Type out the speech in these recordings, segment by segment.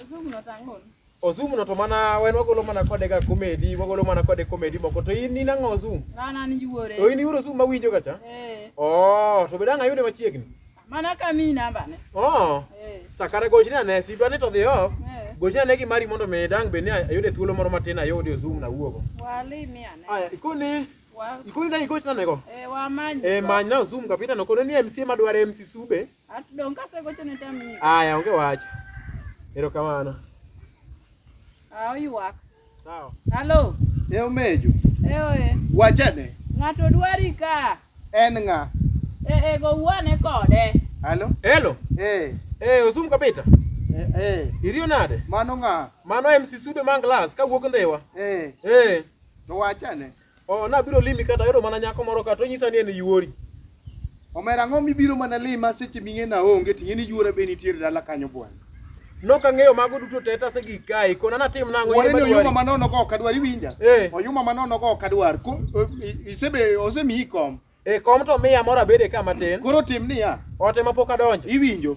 Osumu no tang'ol. Osumu no to mana wen wagolo mana kode ga komedi, wagolo mana kode komedi moko to in in ang'o Osumu? An an yuore. To in iwuoro Osumu ma winjo ga cha? Eh. Oh, to be dang' ayude machiegni. Mana kami namba ne. Oh. Eh. Sakara gochni ane, si dwani to dhi off. Eh. Gochni ane gi mari mondo mi dang' be ni ayude thuolo moro matin ayudi Osumu na wuogo. Wali mi ane. Aya, ikoni Wa. ikoni dang' igochna nego. Eh, wamany. Eh, manyna Osumu kapita no kono ni MC madware MC Sube. Atdong ka segocho ne tami. Aya onge wach. Ero kamano. Ah oyuak. Sawa. Halo. E omejo. E oye. Wachane. Ng'ato dwari ka. En ng'a? E e go wuane kode. Halo. Hello. Eh. Eh Ozum Kabita. Eh, eh. Irio nade? Mano ng'a? Mano MC Sube man glass ka wuok ndhiwa. Eh. Eh. To wachane. Oh, nabiro limi kata ayudo mana nyako moro kata onyisa ni en yuori. Omera ang'o mibiro mana lima seche ming'e na onge ting'e ni yuora be nitiere dala kanyo bwana. Nok ang'eyo mago duto te tase gik kae kona natim nang'o Wore ni oyuma manono go ok adwar iwinja. Eh. Oyuma manono go ok adwar. Ko- o- i- Isebe osemiyi kom. E kom to miya moro abede ka matin. Koro tim niya. Ote ma pok adonjo. Iwinjo.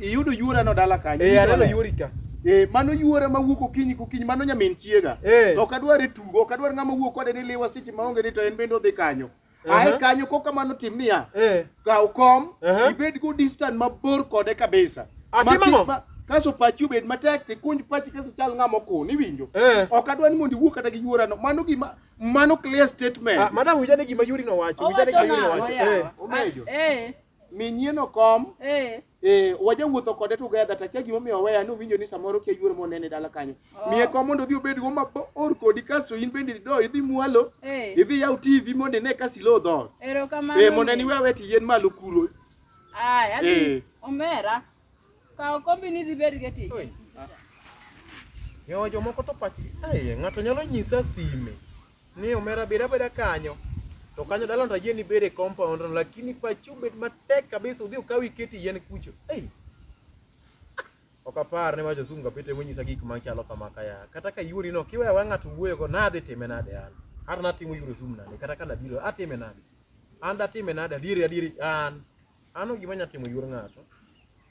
Iyudo yuora no dala kanyo. Eh, aneno yuori ka. Eh, mano yuora ma wuok okinyi kokinyi, mano nyamin chiega. Eh. Ok adwar e tugo, ok adwar ng'ama wuok kode ni liwa seche maonge ni to en bende odhi kanyo. Ae kanyo kok kamano tim niya. Eh. Kaw kom, ibed go distant mabor kode kabisa. Atimang'o? Ah, kaso pachi obed matek tikunj pachi kaso chal ng'ama okun iwinjo. Eh. Ok adwar ni mondo iwuo kata gi yuorano. Mano gima Mano clear statement. Ah, madam wija ni gima Yuri no wacho. Wija ni gima Yuri no wacho. Eh. Omejo. Eh. Minyien okom. Eh. Eh, waja wuotho kode together ta kia gima omiyo weya ni owinjo ni samoro kia yuoro monene dala kanyo. Oh. Miye kom mondo odhi obed go mabor kodi kasto in bende do idhi mwalo. Eh. Idhi yaw TV mondo ine kasi lo dho. Erokamano. Eh, mondo ni wewe ti yien malo kuro. Ah, yaani eh. omera. Kaw kombi ni dhi bed getich. Yo jomoko to pachgi aye ng'ato nyalo nyisa sime ni omera beda beda kanyo to kanyo dalon to ayie ni bede compound no, lakini pachi obed matek kabisa udhi ukaw iketi yien kucho ei ok apar ni wacho zungu kapite monyisa gik machalo kama kaya kata ka yuori no kiweya wa ng'ato wuoyogo nadhi time nade an hata natimo yuro zoom nade kata ka nabiro atime nade an datime nade adieri adieri an Ano gima nya timo yuor ng'ato.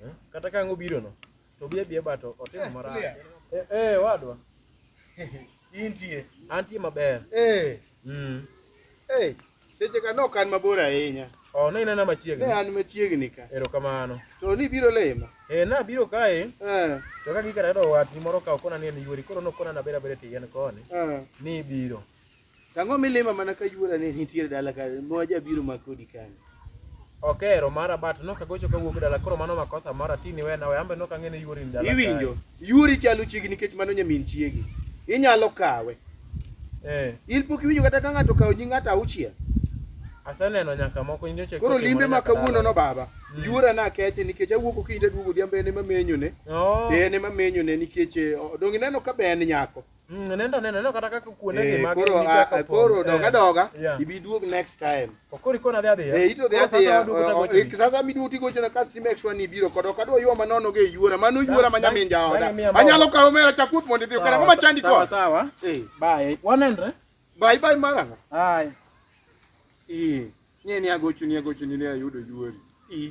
Eh? Kata ka ang'o biro no. To biye biye bato otimo marach. Eh eh wadwa. Intie. Antie maber. Eh. Mm. Eh. Seche ka nok an mabor ahinya. Oh, ne inena machiegni. Ne an machiegni ka. Erokamano. To ni biro lema. Eh, na biro kae. Eh. To ka gikara do wat ni moro ka okona ni en yuori koro nokona na bera bere tiyen koni. Eh. Ni biro. Tang'o milima mana ka yuora ne nitiere dala ka ma jabiro ma kodi kani. Ok ero mara but no kagocho kawuok dala koro mano makosa mara tini wena we ambe no kang'e ni yuori ni dala. Iwinjo? Yuori chalo chiegi nikech mano nyamin chiegi. Inyalo kawe. Eh. In pok iwinjo kata ka ng'ato kawo nying ng'ato auchiel. Aseneno nyaka moko in nyocha. Koro limbe ma kawuono no baba. Mm. Yuora na keche nikech awuok okinyi aduogo odhiambo en ema menyone. Oh. En ema menyone nikech eh, donge ineno ka be en nyako. Mm, nenda nenda neno kata kaka kuonde gi eh, mag koro ah, koro eh, doga doga ibi duog next time okori kona dhi adhiya eh ito dhi adhiya eh, sasa mi duti gocho na kasi make sure ni biro kodo kado yo manono ge yuora mano yuora manya min jaoda anyalo kawo mera cha kuth mondo idhi okara kama chandi ko sawa eh bye wanendre bye bye mara hai eh nie ni agochu ni agochu ni ayudo yuori eh